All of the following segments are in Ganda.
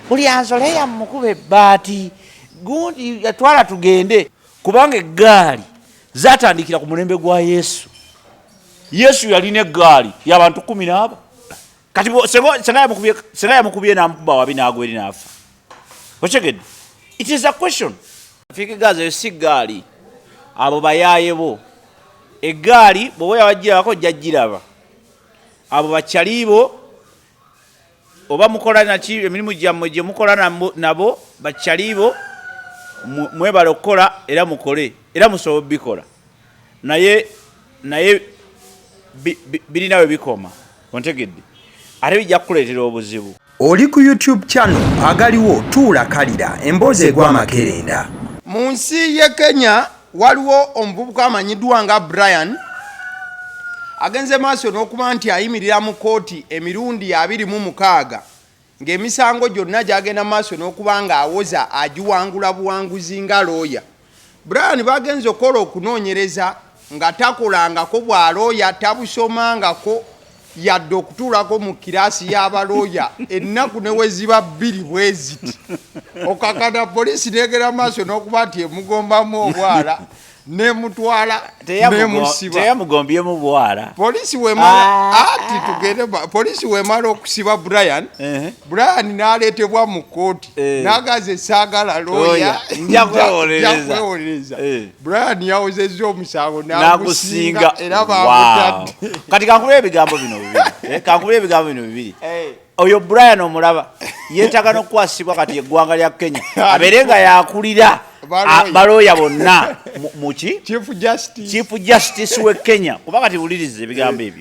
buli anzole yamukuba ebbaati gundi yatwala tugende kubanga eggaali zatandikira ku mulembe gwa yesu yesu yalina eggaali yabantu kumi naabo kati senga yamukubye namukuba wabi nagwa eri naafa okyegedde it is a question fikigazi eyo si gaali abo bayaye bo egaali bwoba yawajirabako jajiraba abo bakyalibo oba mukola naki emirimu gyammwe gye mukola nabo bakyaliibo mwebale okukola era mukole era musobola obikola naye naye birina we bikoma ontegedde ate bijja kukuleetera obuzibu oli ku youtube channel agaliwo tuula kalira emboozi egwa amakerenda mu nsi ye kenya Waliwo omuvubuka amanyiddwa nga Brian agenze maaso n'okuba nti ayimirira mu kkooti emirundi abiri mu mukaaga ng'emisango gyonna gyagenda mu maaso n'okuba ng'awoza agiwangula buwanguzi nga looya brian bagenze okukola okunoonyereza nga takolangako bwa looya tabusomangako yadde okutuulako mu kiraasi y'abalooya ennaku ne we ziba bbiri bwe ziti okakana poliisi neegera maaso n'okuba nti emugombamu obwala nemutwala nemusibteyamugombyemu bwala poliisi wemala ah. ati tugende poliisi wemala okusiba brian brian naleetebwa mu kkooti eh. nagaze saagala looya njakwewolereza eh. Brian yawozezza omusango nagusinga era bamutadde. Kati kankubira ebigambo bino bibiri. Eh, kankubira ebigambo bino bibiri. Eh. Oyo Brian omulaba yeetaaga n'okukwasibwa kati eggwanga lya Kenya abeere nga yakulira balooya bonna muki Chief Justice w'e Kenya kuba kati wuliriza ebigambo ebyo.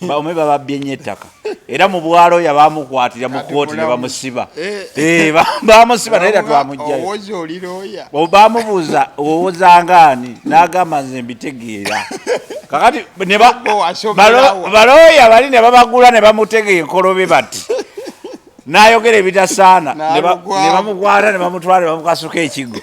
bawume bababbye nnyo ettaka era mu bwalo yabamukwatira mu kooti ne bamusiba eh. Eh, bamusiba naye era twamugjayo bamubuuza owozangaani n'agamba nze mbitegeera kakati balooya bali ne babagula ne bamutega enkolobe bati n'ayogera ebitasaana ne bamukwata ne bamutwala ne bamukasuka ekiggo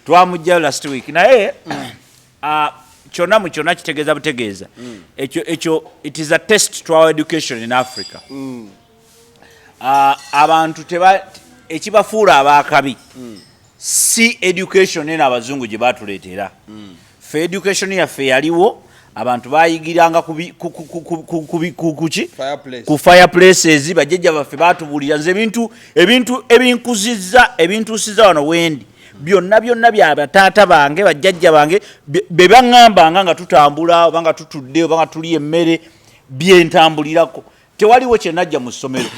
twamugjayo last week naye mm. Ah, kyonna mu kyonna kitegeeza butegeeza mm. ekyo ekyo it is a test to our education in africa mm. ah, abantu teba ekibafuula abaakabi mm. si education eno abazungu gye batuleetera fe education yaffe yaliwo abantu bayigiranga kuki ku fireplaces bajjajja baffe batubuulira nze ebintu ebintu ebinkuzizza ebintuusiza wano wendi byonna byonna bya bataata bange bajjajja bange be baŋŋambanga nga tutambula oba nga tutudde oba nga tuli emmere byentambulirako tewaliwo kyenajja mu ssomero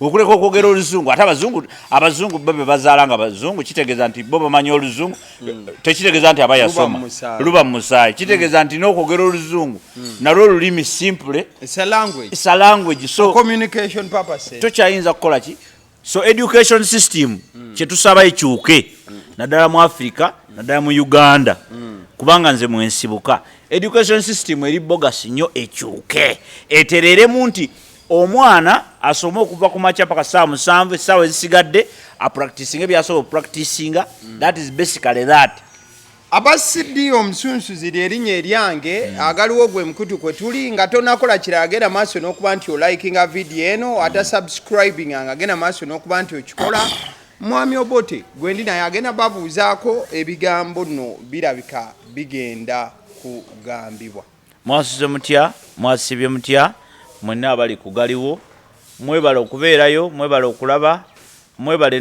okuleka okwogera oluzungu ate abazungu abazungu bo be bazaala nga bazungu kitegeeza nti bo bamanyi oluzungu hmm. tekitegeeza nti aba yasoma luba mu musaayi kitegeeza hmm. nti n'okwogera oluzungu hmm. nalwo olulimi simple sa language so tokyayinza kukola ki so education system mm. kyetusaba ekyuke mm. naddala mu africa mm. naddala mu uganda mm. kubanga nze mwensibuka education system eri bogasi nnyo ekyuke etereremu nti omwana asome okuva ku makya paka saawa musanvu essaawa ezisigadde apractisinga ebyasobola opractisinga mm. that is basically that aba cd omusunsuzi lyerinya eryange hmm. agaliwo gwe mukutu kwe tuli nga tonakola kirala genda maaso n'okuba nti olikinga vidiyo eno hmm. ata subscribing nga genda maaso n'okuba nti okikola mwami obote gwendi naye agenda babuuzaako ebigambo no birabika bigenda kugambibwa mwasuze mutya mwasibye mutya mwenna abali kugaliwo mwebale okubeerayo mwebale okulaba mwebale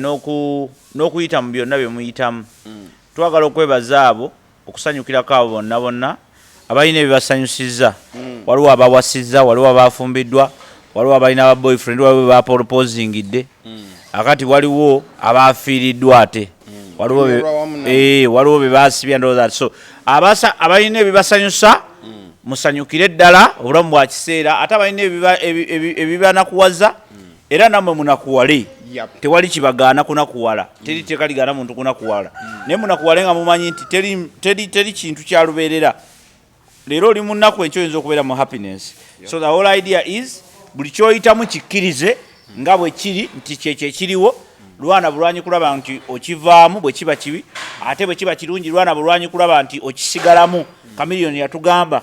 n'okuyita mu byonna bye muyitamu hmm. Twagala okwebaza abo okusanyukirako abo bonna bonna abalina ebibasanyusizza mm. waliwo abawasizza waliwo abaafumbiddwa waliwo abalina aba boyfriend waliwo bebapolopozingidde mm. akati waliwo abaafiiriddwa ate mm. eh, waliwo bebaasibya ndowooza so abalina ebibasanyusa musanyukire ddala obulamu bwa kiseera ate abalina ebibanakuwaza era namwe munakuwale tewali kibagaana kunakuwala teri mm. teeka ligaana muntu kunakuwala mm. naye munakuwale nga mumanyi nti teri kintu kyalubeerera leero oli munaku enkyo oyinza okubeera mu happiness so the whole idea is buli kyoyitamu kikkirize mm. nga bwe kiri nti kyekyo ekiriwo lwana bulwanyi kulaba nti okivaamu bwe kiba kibi ate bwe kiba kirungi lwana bulwanyi kulaba nti okisigalamu kamiliyoni yatugamba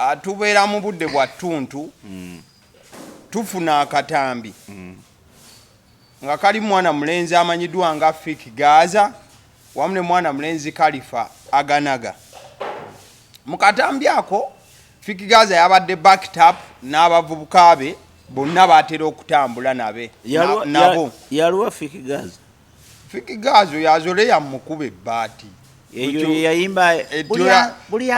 Ah, tubeera mu budde bwa ttuntu mm. tufuna akatambi mm. nga kali mwana mulenzi amanyiddwa nga fik gaza wamu ne mwana mulenzi kalifa aganaga mu katambi ako fik gaza yabadde backtap n'abavubuka be bonna batera okutambula nabe nabo yaliwa fik gaza fikigaazo yazole yamukuba ebbaati eyo yeyayimba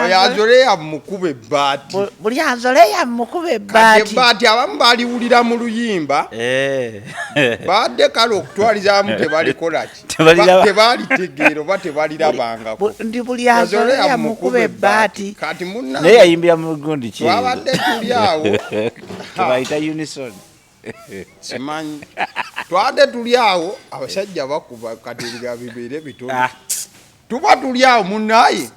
oyazole yamukuba ebbaati buli azole yamukuba ebbaati ebbaati abamu baliwulira mu luyimba eh. badde kale okutwalizamu tebalikolaki tebalitegeera oba tebalirabangako ndi buli azole yamukuba ebbaati kati munnaye yayimbira mu gundi ki twabadde tuli awo tebayita unison simanyi twade tuli awo abasajja bakuba katinga bibeere bitono ah. tuba tuli awo munaye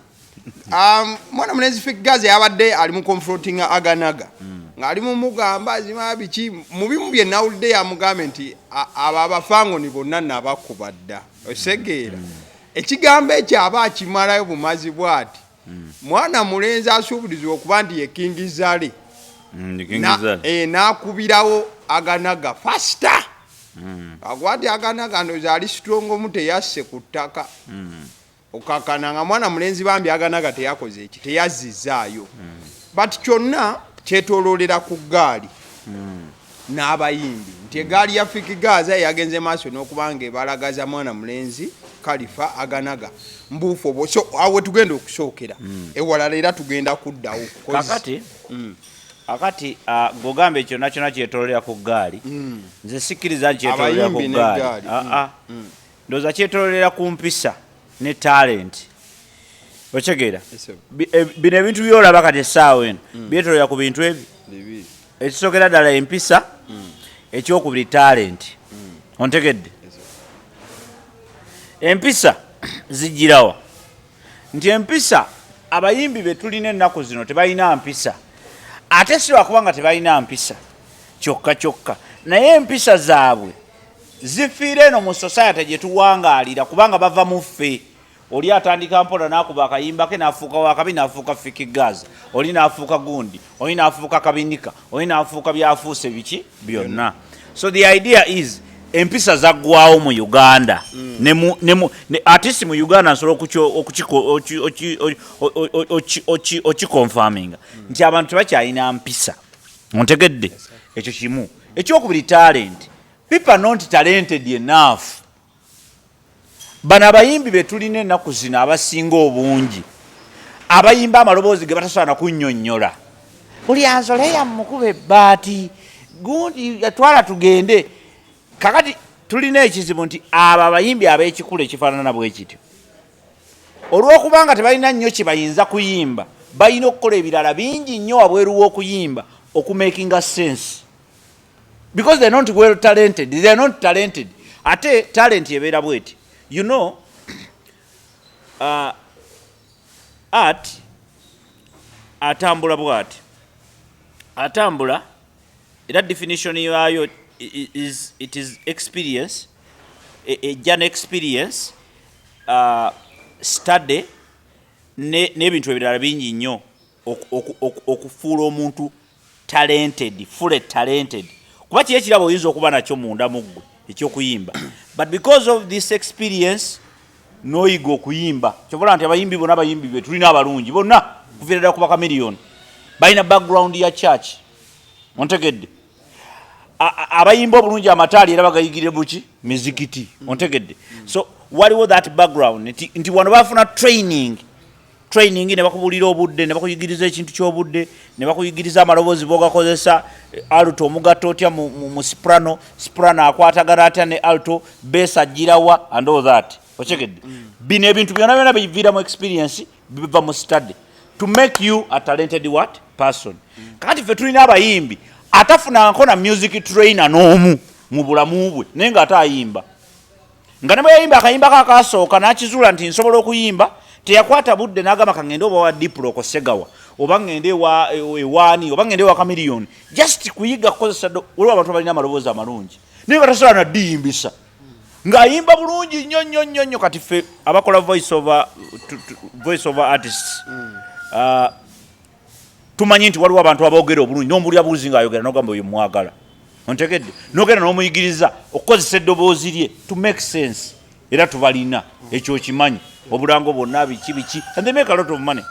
um, mwana mulenzi figazi abadde ali mu confronting aganaga mm. ng'ali mumugamba azima biki mu bimu bye nawulidde yamugambe nti abo abafangoni bonna nabakuba dda osegeera mm. ekigambo ekyo aba akimalayo bumazi bwati mm. mwana mulenzi asuubulizibwa okuba nti ye kingi zale mm, eh, n'akubirawo aganaga fasita mm. akuba nti aganaga ndoza ali sitrongomu teyasse ku ttaka okakana nga mwana mulenzi bambi aganaga teyakoze eki teyazzizaayo but kyonna kyetoloolera ku ggaali n'abayimbi nti egaali ya Fik Gaaza yagenze maaso n'okuba ng'ebalagaza mwana mulenzi Khalifa Aganaga mbuufu obwo so awo tugenda okusookera hmm. ewalala era tugenda kuddawo kakati hmm. akati ah, gogamba ekyo nakyona kyetololera ku ggaali hmm. nze sikkiriza nti kyetololera ku ggaali ah, ah. ndowooza kyetololera ku mpisa ne talenti okitegeera e, bino ebintu byolaba kati essaawa eno byetololera ku bintu ebyo ekisokera ddala empisa ekyokubiri talenti ontegedde empisa zijjirawa nti empisa abayimbi betulina ennaku zino tebalina mpisa ate siwakuba nga tebalina mpisa kyokka kyokka naye empisa zaabwe zifiire eno mu society gyetuwangaalira kubanga bava muffe oli atandika mpola nakuba akayimba ke nafuuka wakabi nafuuka fiki gaza oli nafuuka gundi oli nafuuka kabinika oli nafuuka byafuuse biki byonna so the idea is empisa zaggwawo mu uganda mm. atisi mu uganda nsobola okikonfaminga mm. nti abantu tebakyalina mpisa ontegedde ekyo kimu ekyokubiri talenti pipa nonti talented enough Bano abayimbi be tulina ennaku zino abasinga obungi abayimba amaloboozi ge batasobola na kunnyonnyola. Buli anzole yamukuba ebbaati gundi yatwala tugende. Kakati tulina ekizibu nti abo abayimbi ab'ekikula ekifaanana bwe kityo olw'okuba nga tebalina nnyo kye bayinza kuyimba, balina okukola ebirala bingi nnyo wabweru w'okuyimba okumeekinga sensi. because they're not well talented they're not talented ate talent ebeera bweti you know uh, art atambula bwati atambula era definition yayo is it is experience ejja e, ne experience uh, study n'ebintu ne ebirala bingi nnyo okufuula omuntu talented fully talented kuba kiri ekirabo oyinza okuba nakyo munda mu ggwe ekyokuyimba but because of this experience noyiga okuyimba kyobola nti abayimbi bona abayimbi be tulina abalungi bonna kuviira ddala kuba kamiliyoni balina background ya church ontegedde abayimba obulungi amataali era bagayigire buki mizikiti ontegedde so waliwo that background nti wano bafuna training training ne bakubulira obudde ne bakuyigiriza ekintu ky'obudde ne bakuyigiriza amaloboozi bogakozesa eh, alto omugatta otya mu, mu, mu soprano soprano akwatagana atya ne alto besa ajjirawa and all that okyegedde mm. mm. bino ebintu byona byona biviira mu experience biva mu study to make you a talented what person mm. kati ffe tulina abayimbi atafunanko na music trainer n'omu mu bulamu bwe naye nga ate ayimba nga ne bwe yayimba akayimbako akaasooka n'akizuula nti nsobola okuyimba teyakwata budde n'agamba ka ŋŋende oba wa diplo ku segawa oba ŋŋende ewaani oba ŋŋende ewa kamiliyoni just kuyiga kukozesa waliwo abantu balina amaloboozi amalungi naye nga tasobola naddiyimbisa ng'ayimba bulungi nnyo nnyo nnyo nnyo kati ffe abakola voice over artists mm. uh, tumanyi nti waliwo abantu aboogera obulungi n'omuwulira buuzi ng'ayogera nogamba oyo mwagala ontegedde nogenda n'omuyigiriza okukozesa eddoboozi lye to make sense era tubalina ekyo okimanyi obulango bwonna biki biki and they make a lot of money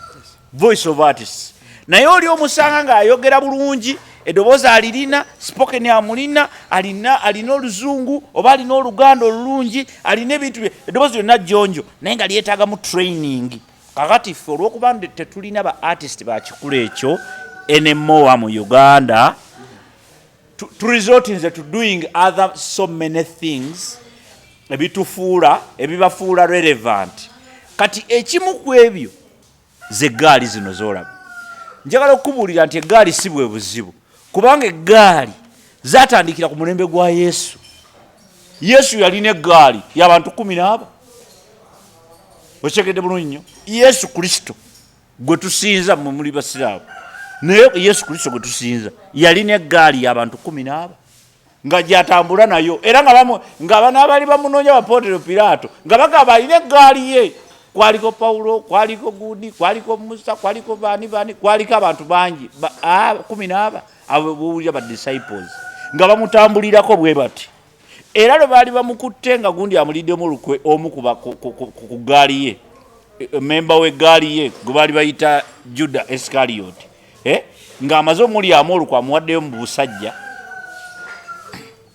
voice of artists naye oli omusanga ng'ayogera bulungi edoboozi alirina spoken amulina alina alina oluzungu oba alina oluganda olulungi alina ebintu bye edoboozi lyonna jjonjo naye nga lyetaagamu training mm. kakati ffe olwokuba tetulina ba artist bakikula ekyo enemoa mu uganda turesortinze to doing other so many things ebitufuula ebibafuula relevant kati ekimu ku ebyo zegaali zino zolaba njagala okukubuulira nti egaali si bwe buzibu kubanga eggaali zatandikira ku mulembe gwa yesu yesu yalina eggaali yabantu kumi naaba okitegedde bulungi nnyo yesu kristo gwe tusinza mwe muli basiraamu naye yesu kristo gwe tusinza yalina eggaali yabantu kumi naaba nga gyatambula nayo era nga bano abaali bamunoonya bapootero piraato nga bagamba alina eggaali ye kwaliko pawulo kwaliko gundi kwaliko musa kwaliko baani baani kwaliko abantu bangi kumi n'aba abo bowulira ba disciples nga bamutambulirako bwe bati era lwe baali bamukutte nga gundi amuliddemu olukwe omu ku gaali ye e, e, memba w'eggaali ye gwe baali bayita juda esikariyoti eh? ng'amaze omulyamu olukwa amuwaddeyo mu busajja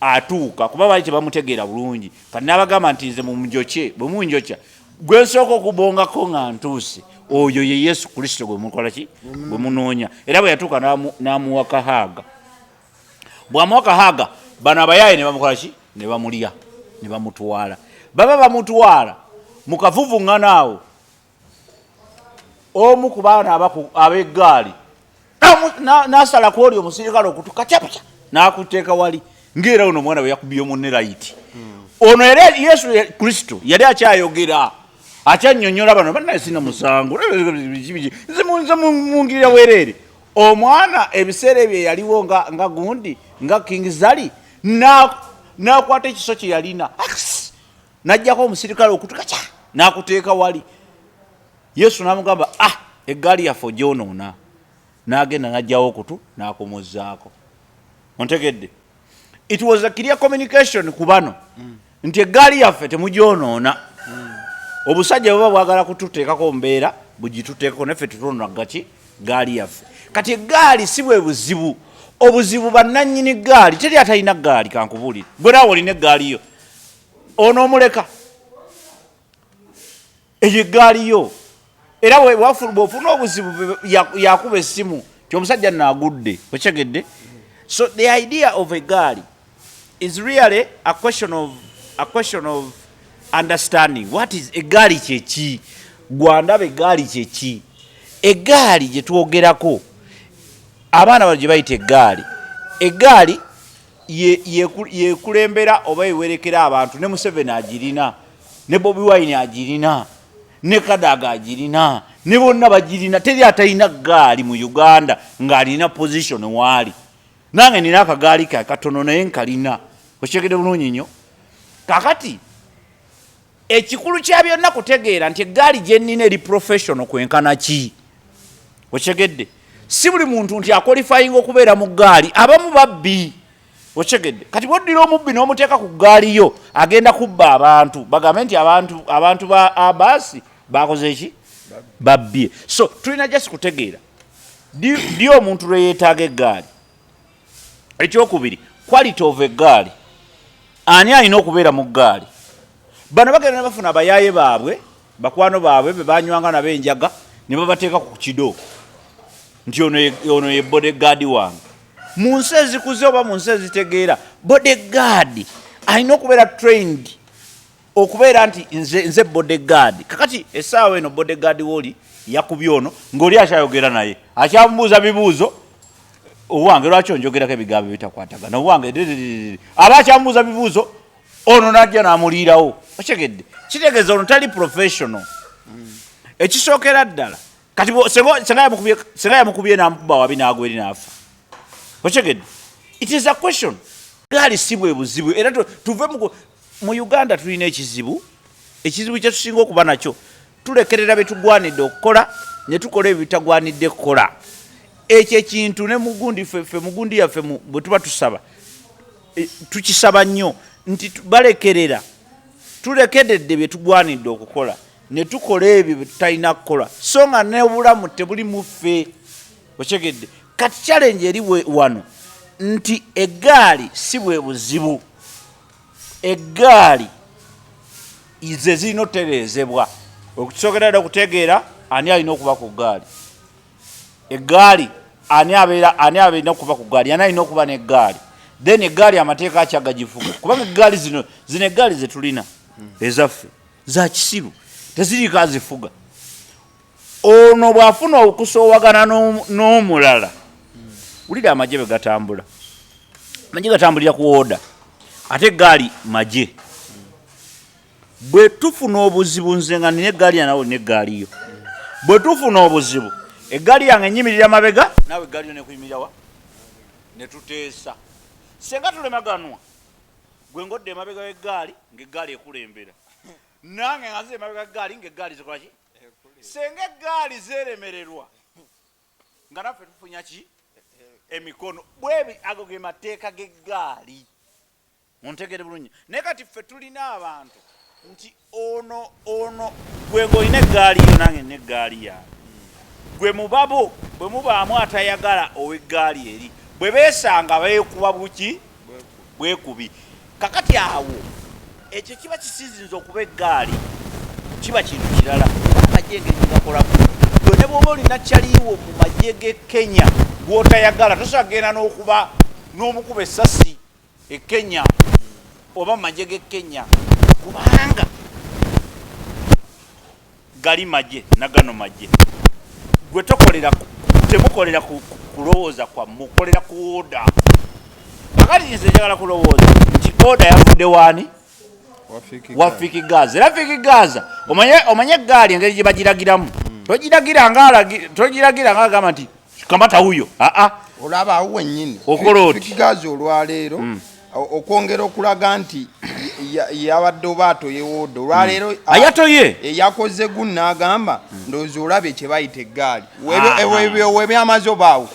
atuuka kuba bali tebamutegeera bulungi kati n'abagamba nti nze mumujokye bwe munjokya gwe nsooka okubongako nga ntuuse oyo ye yesu kristo gwe mukola ki gwe munoonya era bwe yatuuka n'amuwa kahaaga bw'amuwa kahaaga bano abayaaye ne bamukola ki ne bamulya ne bamutwala baba bamutwala mu kavuvuŋŋana awo omu ku baana ab'eggaali n'asala ku oli omusirikale okutu kacapuca n'akutteeka wali ng'era ono omwana bwe yakubye munne layiti hmm. ono era yesu kristo yali akyayogera akyanyonyola bano banaye sina musango nze mungirira wereere omwana ebiseera ebyo yaliwo nga gundi nga king zali nakwata ekiso kye yalina najjako omusirikale okutuka kya nakuteeka wali yesu namugamba ah eggaali yaffe ogyonoona nagenda najjawo okutu nakumuzaako ontegedde it was a clear communication ku bano mm. nti eggaali yaffe temugyonoona mm. obusajja buba bwagala kututeekako mbeera bugituteekako naffe tutonoona gaki gaali yaffe kati eggaali si bwe buzibu obuzibu bannanyini gaali teri atalina gaali kankubulire gwe naawe olina eggaali yo onomuleka eyo eggaali yo era bwofuna obuzibu yakuba essimu ti omusajja nagudde okyegedde so the idea of egaali is really a question of, a question of understanding what is egaali kyeki gwandaba egaali kyeki egaali gyetwogerako abaana bano gyebayita egaali egaali yekulembera oba yewerekera abantu ne museveni agirina ne bobi wine agirina ne kadaga agirina ne bonna bagirina teri atalina gaali mu uganda ng'alina position waali nange nina akagaali ke katono naye nkalina okyegede bulungi nnyo kakati Ekikulu kya byonna kutegeera nti eggaali gye nnina eri professional kwenkana ki okyegedde si buli muntu nti akolifayinga okubeera mu ggaali abamu babbi okyegedde kati bwoddira omubbi n'omuteeka ku ggaali yo agenda kubba abantu bagambe nti abantu abantu ba abaasi bakoze eki babbye so tulina jasi kutegeera ddi omuntu lwe yeetaaga eggaali ekyokubiri quality of egaali ani alina okubeera mu gaali bano bagenda ne bafuna abayaaye baabwe bakwano baabwe be banywanga nabo enjaga ne babateeka ku kido nti ono ye bodegaadi wange mu nsi ezikuze oba mu nsi ezitegeera bodegaadi alina okubeera trained okubeera nti nze nze bodyguard kakati esaawa eno bodyguard woli yakubye ono ng'oli akyayogera naye akyamubuuza bibuuzo owange lwaki onjogerako ebigambo bitakwatagana owange aba akyamubuuza bibuuzo ono najja namuliirawo okyegedde kitegeeza ono tali professional ekisookera ddala kati senga yamukubye namukuba wabi nagwa eri naafa okyegedde it is a question gaali si bwe buzibu era tuve mu Mu Uganda tulina ekizibu, ekizibu kye tusinga okuba nakyo tulekerera bye tugwanidde okukola ne tukola ebyo bitagwanidde kukola. Ekyo ekintu ne mugundi ffe mugundi yaffe bwe tuba tusaba e, tukisaba nnyo nti balekerera tulekededde bye tugwanidde okukola ne tukola ebyo bye tutalina kukola so nga n'obulamu tebuli mu ffe okyegedde kati challenge eri wano nti eggaali si bwe buzibu eggaali ze zirina otereezebwa okusookera dda okutegeera ani alina okuba ku ggaali eggaali ani abeera ani abeerina okuba ku ggaali ani alina okuba n'eggaali then eggaali amateeka akya gagivuga kubanga eggaali zino zino eggaali ze tulina ezaffe za kisiru teziriiko azifuga ono bwafuna okusowagana n'omulala wulira amagye bwegatambula amagye gatambulira ku oda ate gaali magye bwetufuna obuzibu nze nga nina egaali yanawe olina egaaliyo bwetufuna obuzibu egaali yange enyimirira mabega nawe egaaliyo nekuyimirirawa netuteesa senga tulemaganwa gwe ngodde emabega wegaali ngaegaali ekulembera nange ngaze emabega gaali ngaegaali zikolaki senga eggaali zeremererwa nga naffe tufunya ki emikono bwebi ago ge mateeka g'eggaali muntegere bulungi naye kati ffe tulina abantu nti ono ono gwego olina eggaali yo nange nina eggaali yange gwe mubabo bwe mubaamu atayagala ow'eggaali eri bwe beesanga beekuba buki bwekubi kakati awo ekyo kiba kisizinza okuba eggaali kiba kintu kirala amagye engeri gyegakolamu yo ne bwoba olina kyaliiwo mu magye ge kenya gwotayagala tosobola kugenda n'okuba n'omukuba essasi e kenya oba mu magye ge kenya kubanga gali magye nagano magye gwe tokolera temukolera kulowooza kwammwe okolera ku oda akati nze njagala kulowooza nti oda yavudde waani wa fiki gaza era fiki gaza omanye egaali engeri gyebagiragiramu hmm. togiragira nga agamba nti kamata wuyo aa ah, ah. olaba awo wenyini okola oti gazi olwaleero mm. okwongera okulaga nti yabadde oba atoyewooda olwaleero mm. ayatoye eyakoze eh, gun n'agamba mm. ndowooza olabye kye bayita eggaali ah, webyamaze obaawo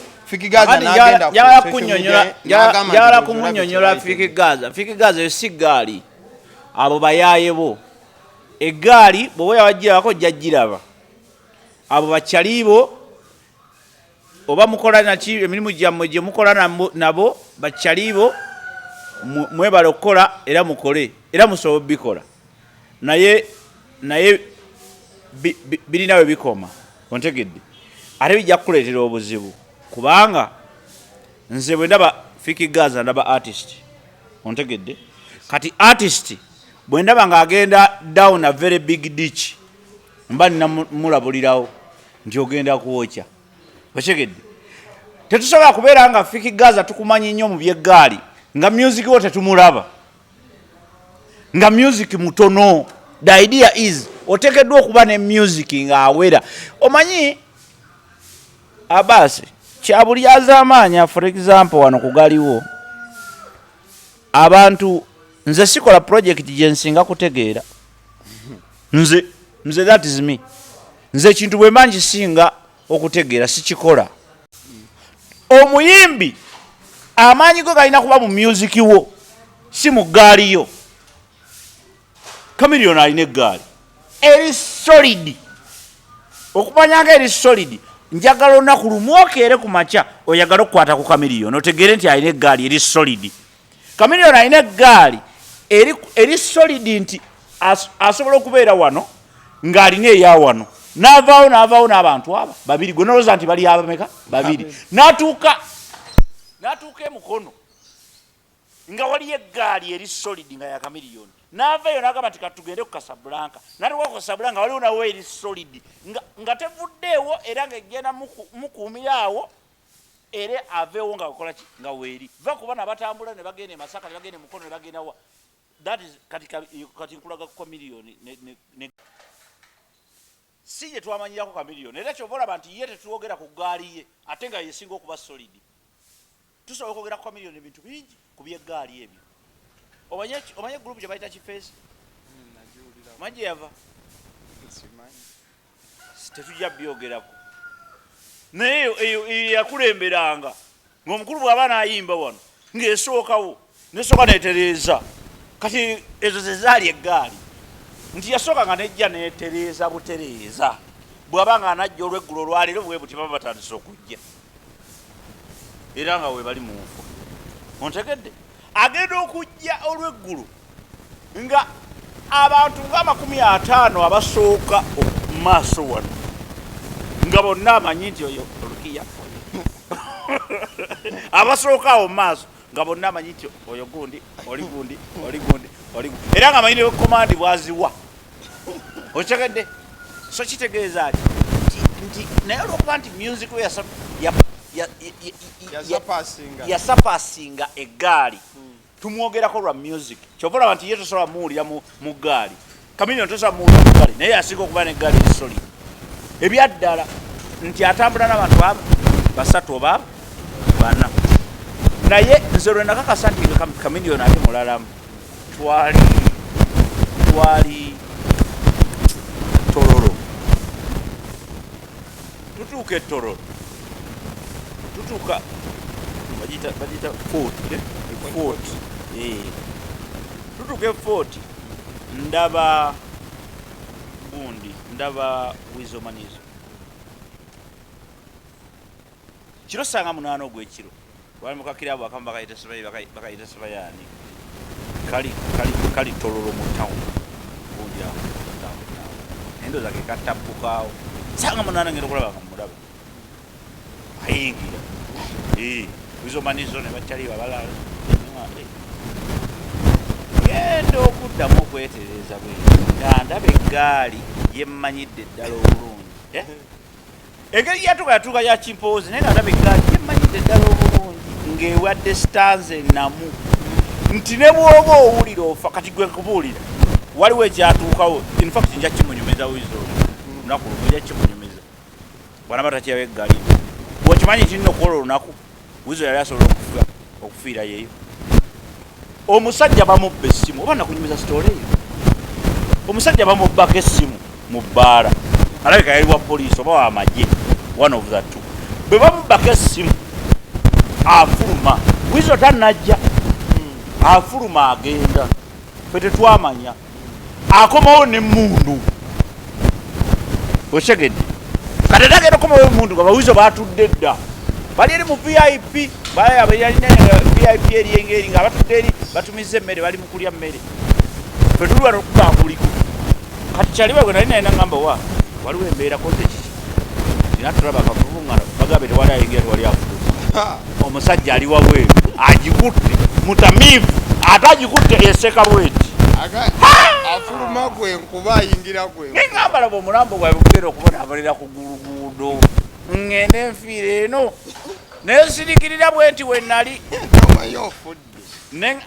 yala kumunyonyola fiki gaza fiki gaza eyo si gaali abo bayaye bo egaali bwoba yawajirako jajiraba abo bakyalibo oba mukola naki emirimu gyammwe gye mukola nabo bakyaliibo mwebale okukola era mukole era musobola obikola naye naye birina we bikoma ontegedde ate bijja kukuleetera obuzibu kubanga nze bwe ndaba fiki gaza ndaba artist ontegedde kati artist bwe ndaba ng'agenda down a very big ditch mba namulabulirawo nti ogenda kuwokya okitegedde tetusobola kubeera nga fiki gaza tukumanyi nnyo mu byeggaali nga music wo tetumulaba nga music mutono the idea is otekeddwa okuba ne music nga awera omanyi abasi kyabulyazamaanya for example wano kugaliwo abantu nze sikola project gyensinga kutegeera nze nze that is me nze ekintu bwe mba nkisinga okutegeera sikikola omuyimbi amaanyi go galina kuba mu myuziki wo si mu ggaaliyo Chameleone alina eggaali eri solid okumanya nga eri solid njagala olunaku lumu okeere ku makya oyagala okukwata ku Chameleone otegeere nti alina eggaali eri solid Chameleone alina eggaali eri, eri solid nti as, asobola okubeera wano ng'alina eya wano n'avaawo n'avaawo n'abantu aba babiri gwe nolowooza nti bali abameka babiri n'atuuka n'atuuka emukono nga waliyo eggaali eri solid nga yakamiliyoni naavaeyo nagamba nti katugende ku kasabulanka natuka ku kasabulanka waliwo nawo eri solid nga tevuddeewo era nga egenda mukuumira awo era aveewo nga akola ki nga weeri va ku bana batambula ne bagenda emasaka ne bagenda emukono ne bagenda wa that is kati nkulaga ku kamiliyoni Ssi ye twamanyirako Chameleone era kyova olaba nti ye tetwogera ku ggaali ye ate nga yesinga okuba solid. Tusobola okwogera ku Chameleone ebintu bingi ku by'eggaali ebyo. Omanye omanye group gye bayita Kifeesi? Hmm, Omanyi gye yava? Tetujja byogerako. Naye eyo yakulemberanga. ng'omukulu bw'aba n'ayimba wano ng'esookawo nesooka netereeza kati ezo zezaali eggaali nti yasooka nga nejja netereeza butereeza bw'aba nga anajja olweggulo olwaleero bwe buti baba batandise okujja era nga webali mu nfo ontegedde agenda okujja olw'eggulu nga abantu ng'amakumi ataano abasooka mu maaso wano nga bonna amanyi nti oyo olukiya abasooka awo mu maaso nga bonna amanyi nti oyo gundi oli gundi oli gundi oli gundi era nga amanyi ne komandi bwaziwa okitegedde so kitegeeza ati nti naye olwokuba nti music we yasapasinga eggaali hmm. tumwogerako lwa music kyova olaba nti ye tosobola muwulira mu ggaali kamilion tosobola muwulira mu ggaali naye yasinga okuba ne ggaali esoli ebyaddala nti atambula nabantu abo basatu oba bana naye nze lwe nakakasa nti kamiliyoni ate mulalamu twali twali tororo tutuuka etororo tutuuka bagita bagita fort eh? fort eh. tutuuka efort ndaba gundi ndaba wizo manyizo kiro sanga munaana ogwekiro wali mukakira abo akamu bakayita sibayi bakayita sibayaani kali kali kali tololo mu town gundi awo naye ndoza kekattabbukaawo sanga munaana ngenda okulaba kamulaba ayingira izo manizo ne bataliba balala genda okuddamu okwetereeza bwe nga ndaba eggaali yemmanyidde eddala obulungi eh? engeri yatuka yatuuka ya kimpoozi naye nga ndaba eggaali yemmanyidde eddala obulungi ng'ewadde sitanze enamu nti ne bw'oba owulira ofa kati gwe kubuulira waliwo ekyatuukawo infact nja kimunyumiza wizo olunaku lumu nja kimunyumiza bwanaba takirawo eggali okimanyi nti nno kwolwo olunaku wizo yali asobola okufa okufiira yeyo omusajja bamubba essimu oba nakunyumiza sitoola eyo omusajja bamubbako essimu mu bbaala alabika yali wa poliisi oba wamagye one of the two bwe bamubbako essimu afuluma wizo tanajja afuluma agenda fe tetwamanya akomawo ne mundu okitegedde kati ate agenda okomawo emundu nga bawizo batudde dda bali eri mu vip bayalina vip eryengeri nga batudde eri batumiza emmere bali mukulya mmere fetuli wano okubakuliko kati kyaliwa gwe nali naye nagamba wa waliwo embeera koze kiki natulaba akavuvungana bagabe tewali ayingira tewali afudu omusajja ali wabweru agikutte mutamiivu ate agikutte eseka bweti afuluma gwe nkuba ayingira gwe nengambala bwe omulambo gwae bugenda okubonabonera ku guluguudo ngende nfiire eno nensirikirira bwenti wenali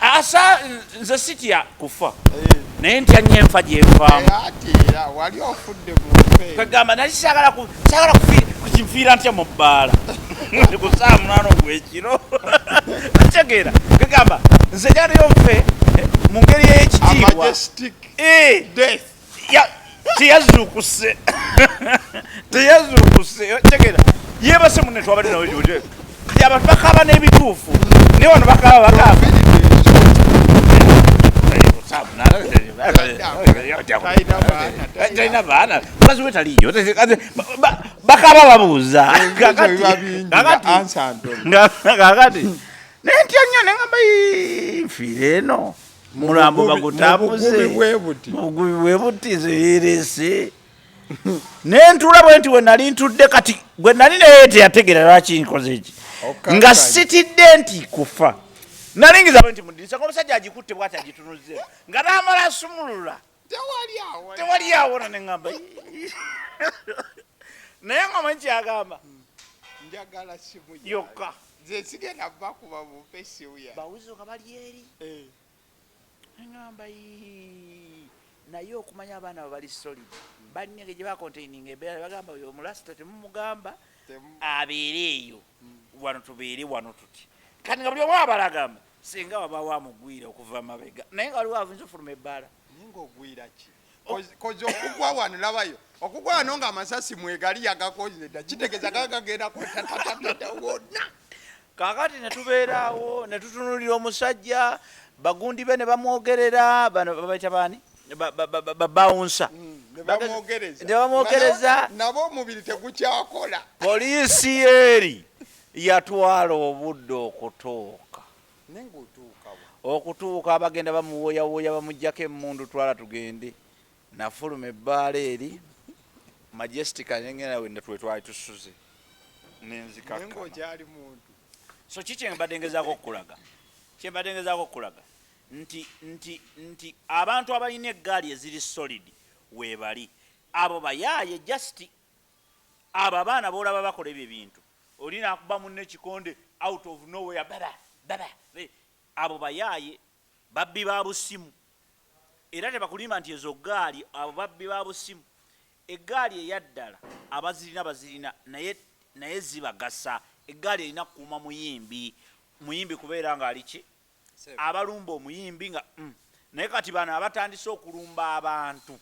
asa nze sitya kufa eh. naye ntya nyo enfa gyenfamukwegamba eh, nali sagala kukinfiira ntya mu bbaala kusaa munano gwekiro kitegeera kwegamba nze janayo nfe eh, mu ngeri eyekitiibwa teyazukuse teyazukuse tegera yebase mune twabade nawe joje abantu bakaba n'ebituufu naye wano bakaba bakaba talina baana mukazi we taliyo bakaba babuuza kakati naye ntya nnyo nengamba nfiire eno mulambo bagutabuze mubugubi bwe buti nze yerese nentula bwe nti we nali ntudde kati gwe nali naye teyategeera lwaki nkoze eki nga sitidde nti kufa nalingiza bwe nti mudirisa ngaomusajja agikutte bwati agitunuzze nga namala asumulula tewali awo tewali awo na nengamba naye nga manyi kyagamba njagala simu yokka zesigenda bakuba bumpe simu ya bawuzuka bali eri eh. nengamba naye okumanya abaana bo bali solid balina engeri gye bakontaininga embeera bagamba oyo omulasita temumugamba abeere eyo hmm. wano tubeere wano tuti kati nga buli omu abalagamba Singa wabaawo amugwira okuva mabega naye nga waliwo avunza ofuluma ebbaala. Naye ng'ogwira ki? Kozi okugwa wano labayo okugwa wano nga amasasi mwegali yagakoze dda kitegeeza gaa gagenda kwetatatata wonna. Kaakati ne tubeeraawo ne tutunuulira omusajja bagundi be ne bamwogerera bano babaita baani? babawunsa nebamwogereza nabo omubiri tegukyakola poliisi yeeri Yatwala obudde okutuuka. Naye nga otuuka wa? Okutuuka abagenda bamuwooyawooya bamuggyako emmundu twala tugende. Nafuluma ebbaala eri Majestica ne ngenda we twe twali tusuze ne nzikakkana. Naye ng'okyali muntu. So ki kye mbadde ngezaako okukulaga? Kye mbadde ngezaako okukulaga nti nti nti abantu abalina eggaali eziri solid weebali abo bayaaye just Abo abaana bolaba bakola ebyo ebintu oli nakuba munne ekikonde out of nowhere baba baba abo bayaaye babbi ba busimu era tebakulimba nti ezo gaali abo babbi ba busimu eggaali eyaddala abazirina bazirina naye naye zibagasa eggaali erina kukuuma muyimbi muyimbi kubeera ng'ali ki abalumba omuyimbi nga mm, naye kati bano abatandise okulumba abantu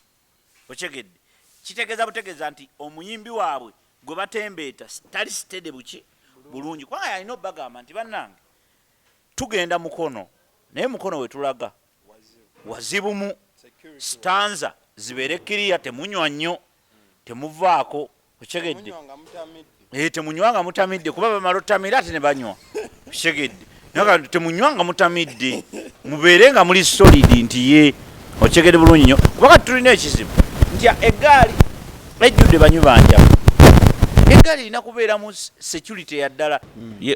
okyegedde kitegeza butegeza nti omuyimbi waabwe gwe batembeeta tali sitede buki bulungi kubanga yalina obagamba nti bannange tugenda mukono naye mukono wetulaga wazibumu sitanza zibeere kiriya temunywa nnyo temuvaako okitegedde eh, temunywa nga mutamidde kuba bamala otamira ate ne banywa okitegedde temunywa nga mutamidde mubeere nga muli solidi nti ye okitegedde bulungi nyo kuba kati tulina ekizibu nti egaali ejjudde banywi banjamu egaali erina kubeeramu security yaddala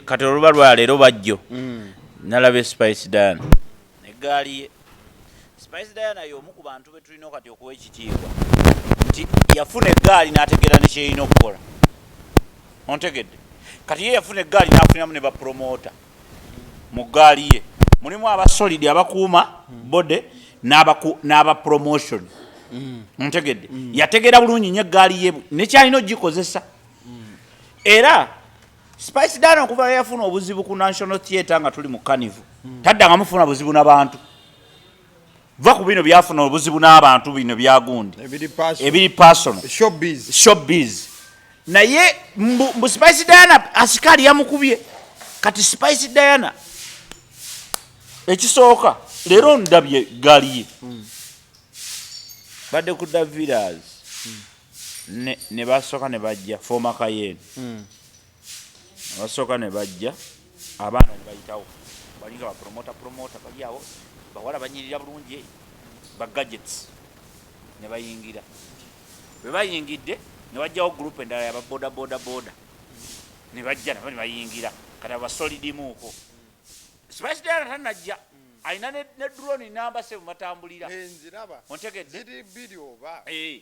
kati oluba lwaleero bajjo mm. nalaba espice dan Eggaali ye Spice Diana y'omu ku bantu be tulina kati okuwa ekitiibwa nti yafuna eggaali n'ategeera ne kyeyina okukola. Ontegedde? Kati ye yafuna eggaali n'afuniramu ne bapromoota mu ggaali ye mulimu aba solidi abakuuma bode n'aba promotion. Mm. Ontegedde? Mm. Yategeera bulungi nyo eggaali ye nekyalina ogikozesa mm. era Spice Dana okuva lwe yafuna obuzibu ku National Theatre nga tuli mu Carnival hmm. taddanga mufuna buzibu n'abantu va ku bino byafuna obuzibu n'abantu bino byagundi ebiri personal showbiz naye mbu Spice Dana asikaali yamukubye kati Spice Dana ekisooka leero ndabye galiye hmm. badde ku daviras ne ne basoka ne bajja forma kayen mm. basoka ne bajja abana ne bayitawo balinga ba promoter promoter bali awo bawala banyirira bulungi ba gadgets ne bayingira bwe bayingidde ne wajjawo group endala ya ba boda boda boda ne bajja nabo ne bayingira kati aba solid muuko spice dara tanajja alina ne drone namba se mumatambulira ontegedde eh, ziri biri oba eh.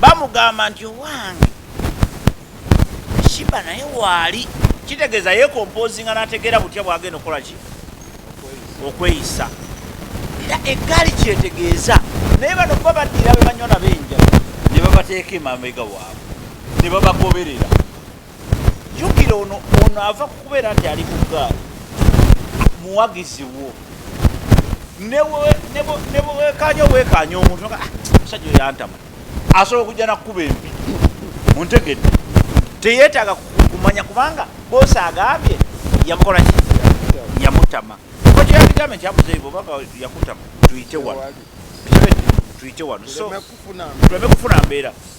bamugamba nti owange shiba naye waali kitegeeza yekompozinga nategeera butya bwagenda okukola ki okweyisa era eggaali kyetegeeza naye bano kuba baddira be banywa nabo enjala ne babateeka emamega waabwe ne babagoberera jukira ono ono ava kukubeera nti ali kugaali muwagizi wo nebwewekanya obwekanya omuntu ah, musajja oyantama asobola okujja nakukuba empi muntegedde teyetaaga kumanya kubanga bosi agambye yamukolaki yamutama kokyeyakigambye nti amuzeyi bobanga yakutama tuyite wano tuyite wano so tuleme kufuna mbeera so,